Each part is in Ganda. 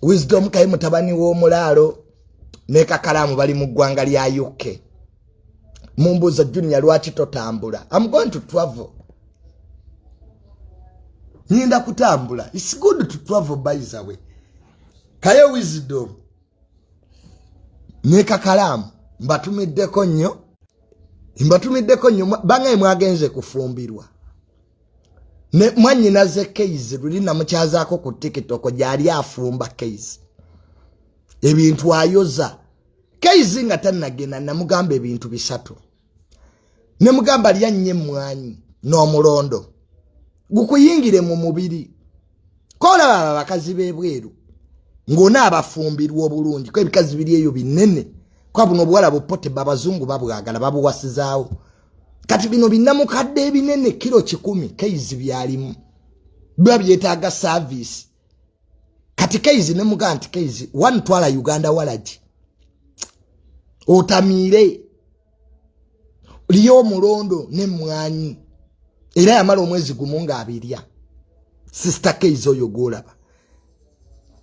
wisdom kaye mutabani w'omulaalo ne kakalaamu bali mu ggwanga lya uk mumbuuza junior lwaki totambula am going to travel nyinda kutambula its good to travel byzawe kaye wisdom ne kakalaamu mbatumiddeko nnyo mbatumiddeko nnyo bangaye mwagenze kufumbirwa ne mwanyina ze keys luli namukyazaako ku tiktok gyali afumba keys ebintu ayoza keys nga tanagenda namugamba ebintu bisatu nemugamba lya nnyo emmwanyi n'omulondo gukuyingire mu mubiri kolaba abo abakazi b'ebweru ng'ona abafumbirwa obulungi ko ebikazi biri eyo binene kwa buno obuwala bupote babazungu babwagala babuwasizaawo kati bino binamukadde ebinene kiro kikumi keizi byalimu biba byetaaga saavisi kati keizi ne mugaa nti keizi one twala uganda walagi otamiire liyo omulondo nemwanyi era yamala omwezi gumu nga abirya sisita keiza oyo gwolaba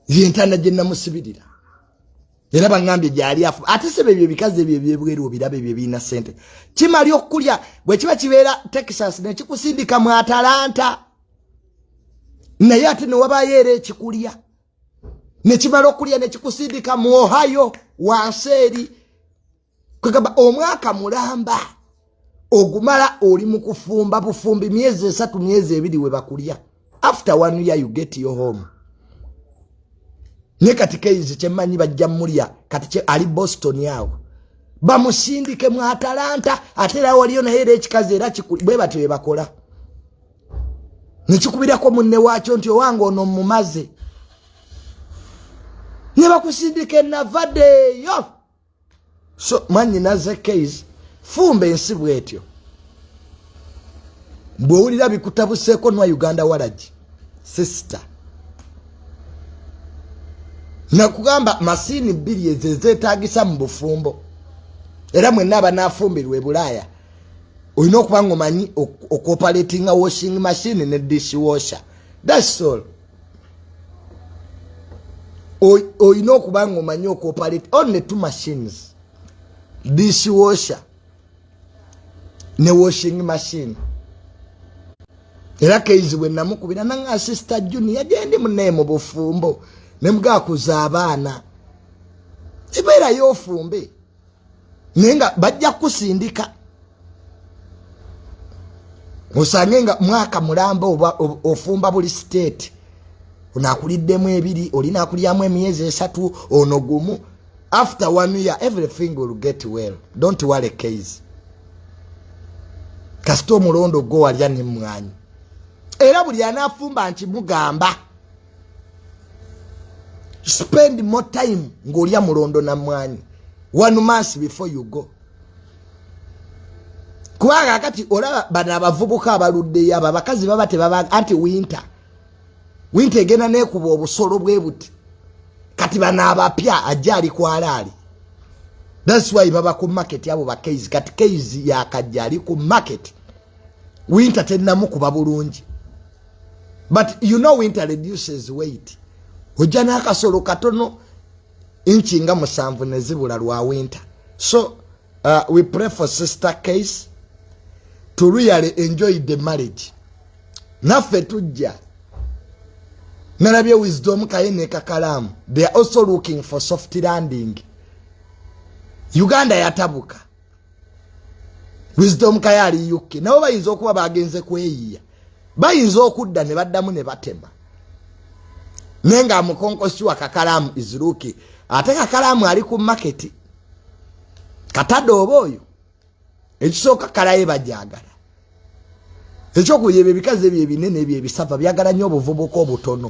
yentana gye namusibirira era baŋambye gyali afu ate sebe ebyo ebikazi ebyo ebyebweru obiraba ebyo ebirina sente kimali okukulya bwe kiba kibeera texas nekikusindika mu atalanta naye ate newabayo era ekikulya nekimala okulya nekikusindika mu ohio wansi eri kwegamba omwaka mulamba ogumala oli mu kufumba bufumbi myezi esatu myezi ebiri we bakulya after one year you get your home naye kati keizi kyemmanyi bajja mulya kati ali boston awo bamusindike mu atalanta ate era waliyo naye era ekikazi era bwe batyo bebakola nekikubirako munne waakyo nti owange ono mumaze ne bakusindika enavadeeyo so mwanyina ze case fumba ensi bwetyo bwowulira bikutabuseeko nwa uganda walagi sister nakugamba masiini bbiri ezo ezetagisa mu bufumbo era mwenna abanafumbirwa ebulaaya olina okuba nga omanyi okuoperatinga washing machine ne dish washer dasol olina okuba nga omanyi okuoperate only two machines dish washer ne washing machine era keizi bwe namukubira nanga asista juni yagendi munaye mu bufumbo nemugakuza abaana ebeerayo ofumbe naye nga bajja kukusindika osange nga mwaka mulamba oba ofumba buli state onakuliddemu ebiri olinakulyamu emyezi esatu ono gumu after one year everything will get well don't worry case kasita omulondo gwo walya nemwanyi era buli anafumba nti mugamba spend more time ng'olya mulondo na mwanyi one month before you go kubanga kati olaba bano abavubuka abaluddeyo abo abakazi baba tebaba anti winter winter egenda nekuba obusolo bwe buti kati bano abapya ajja ali kwalaali thats why baba ku market abo bakeizi kati keizi yakajja ali ku market winter tennamukuba bulungi but you know winter reduces weight ojja n'akasolo katono inchi nga musanvu nezibula lwa winter so uh, we pray for sister case to really enjoy the marriage naffe tujja nalabye wisdom kaye nekakalaamu they are also looking for soft landing uganda yatabuka wisdom kaye ali uk nabo bayinza okuba bagenze kweyiya bayinza okudda ne baddamu ne batema naye nga amukonkosiwa kakalaamu iziruki ate kakalaamu ali ku maketi katadde oba oyo ekisooka kalaye bajagala ekyokuba ebyo ebikazi ebyo ebinene ebyo ebisava byagala nnyo obuvubuka obutono